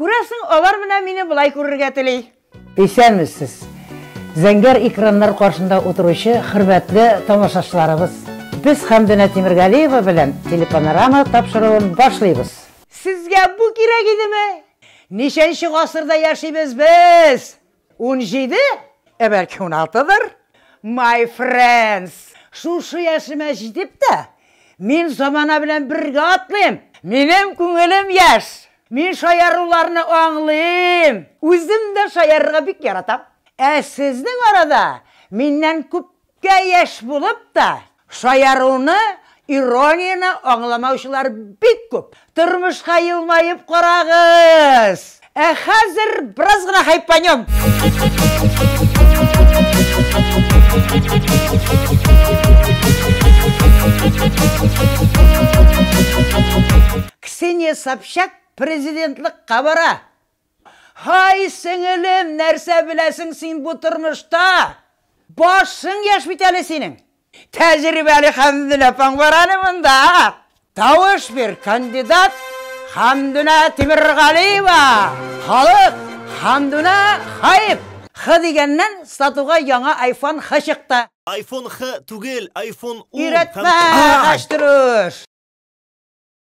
Күрәсең, алар менә мине болай күрергә тели. Исәнмесез! Зәңгәр экраннар каршында утыручы хөрмәтле тамашачыларыбыз! Без Хәмдүнә Тимергалиева белән телепанорама тапшыруын башлыйбыз! Сезгә бу кирәк идеме? Ничәнче гасырда яшибез без? Унҗиде? Ә бәлки уналтыдыр? My friends! Шушы яшемә җитеп тә, мин замана белән бергә атлыйм! Минем күңелем яшь! Мин шаяруларны аңлыйм! Үзем дә шаярырга бик яратам! Ә сезнең арада миннән күп Кә яшь булып та, шаяруны, иронияне аңламаучылар бик күп. Тормышка елмаеп карагыз! Ә хәзер бераз гына хайпанем! Ксения Собчак президентлыкка бара! Һай, сеңелем, нәрсә беләсең син бу тормышта? Башың яшь бит әле синең. Тәҗрибәле Хәмдүнә апаң бар әле монда. Тавыш бир, кандидат Хәмдүнә Тимергалиева! Халык, Хәмдүнә хаип! Х дигәннән сатуга яңа айфон Х чыкты. Айфон Х түгел, айфон ун һәм Өйрәтмә, хәчтерүш!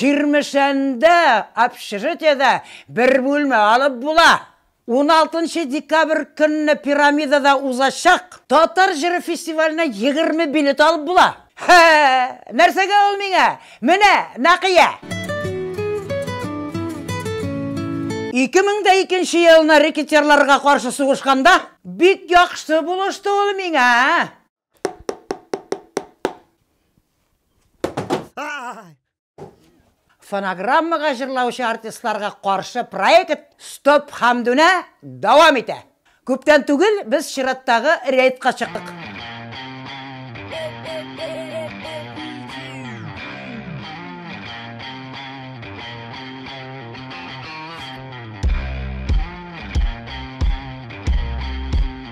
Чирмешәндә общежитиедә бер бүлмә алып була. Уналтынчы декабрь көнне Пирамидада узачак Татар җыры фестиваленә егерме билет алып була. Һе, нәрсәгә ул миңа? Менә, Нәкыя! Ике мең дә икенче елны рекетирларга каршы сугышканда бик яхшы булышты ул миңа. фонограммага җырлаучы артистларга каршы проект Стоп Хамдүнә дәвам итә. Күптән түгел без чираттагы рейдка чыктык.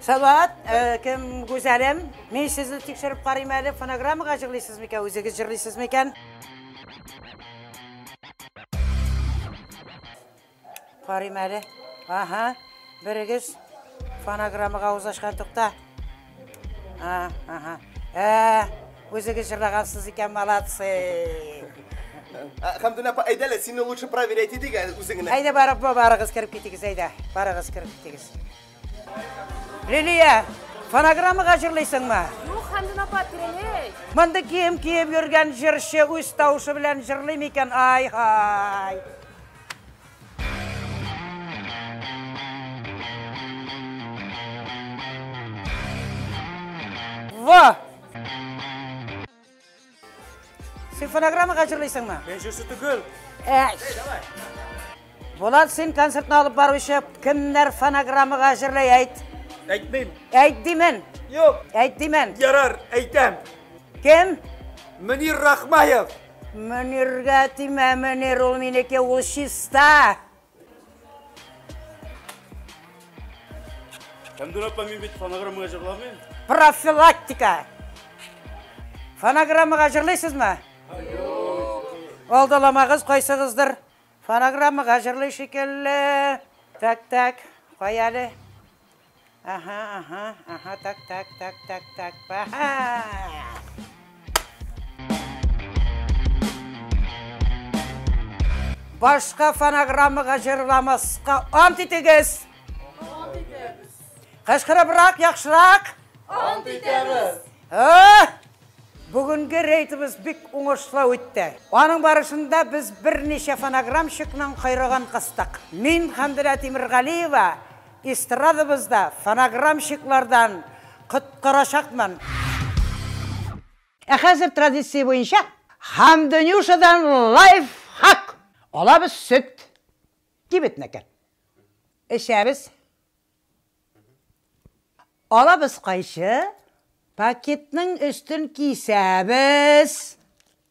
Салават, э, кем гүзәлем? Мин сезне тикшереп карыйм әле, фонограммага җырлыйсыз микән, үзегез җырлыйсыз микән? Карыйм әле. Ага, берегез фонограммага авыз ачкан тукта. А, ага. Ә, үзегез җырлагансыз икән, молодцы. Хамдуна апа, әйдә әле, сине лучше проверять идек әле үзең генә. Әйдә барып, ба- барыгыз кереп китегез, әйдә. Барыгыз кереп китегез. Лилия, фонограммага җырлыйсыңмы? Юк, Хәмдүн апа, тирәләй. Мондый кием киеп йөргән җырчы үз тавышы белән җырлый микән? Ай-һай. Ва! Син фонограммага җырлыйсыңмы? Мин җырчы түгел. Әй. Булат, син концертны алып баручы кемнәр фонограммага җырлый әйт. Әйтмим. Әйт димен. Юк. Әйт димен. Ярар, әйтәм. Кем? Мөнир Рахмаев. Мөниргә тимә, Мөнир ул минеке, ул чиста. Әмдүр апа, мин бит фонограммага җырламыйм. Профилактика. Фонограммага җырлыйсызмы? Алдаламагыз кайсыгыздыр. Фонограммага җырлый шикелле. Так, так, кай әле. Ага, ага, ага, так, так, так, так, так, ага. Башка фонограммага җырламаска ант итегез. Ант итәбез. Кышкырыбрак, яхшырак. Ант итәбез. Ха! Бүгенге рейдыбыз бик уңышлы үтте. Аның барышында без берничә фонограммщикның кайрыгын кыстык. Мин Хандирә Тимиргалиева Эстрадабызда фонограммщиклардан коткарачакмын. Ә хәзер традиция буенча Хандонюшадан лайфхак! Алабыз сөт. Кибетнеке. Эчәбез. Алабыз кайчы. Пакетның өстен кисәбез.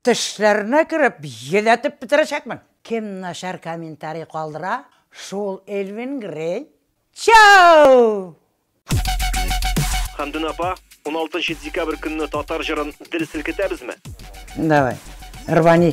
Тешләренә кереп йөдәтеп бетерәчәкмен! Кем начар комментарий калдыра, шул Элвин Грей! Чау! Хәмдүнә апа, уналтынчы декабрь көнне татар җырын дер селкетәбезме? Давай, рвани!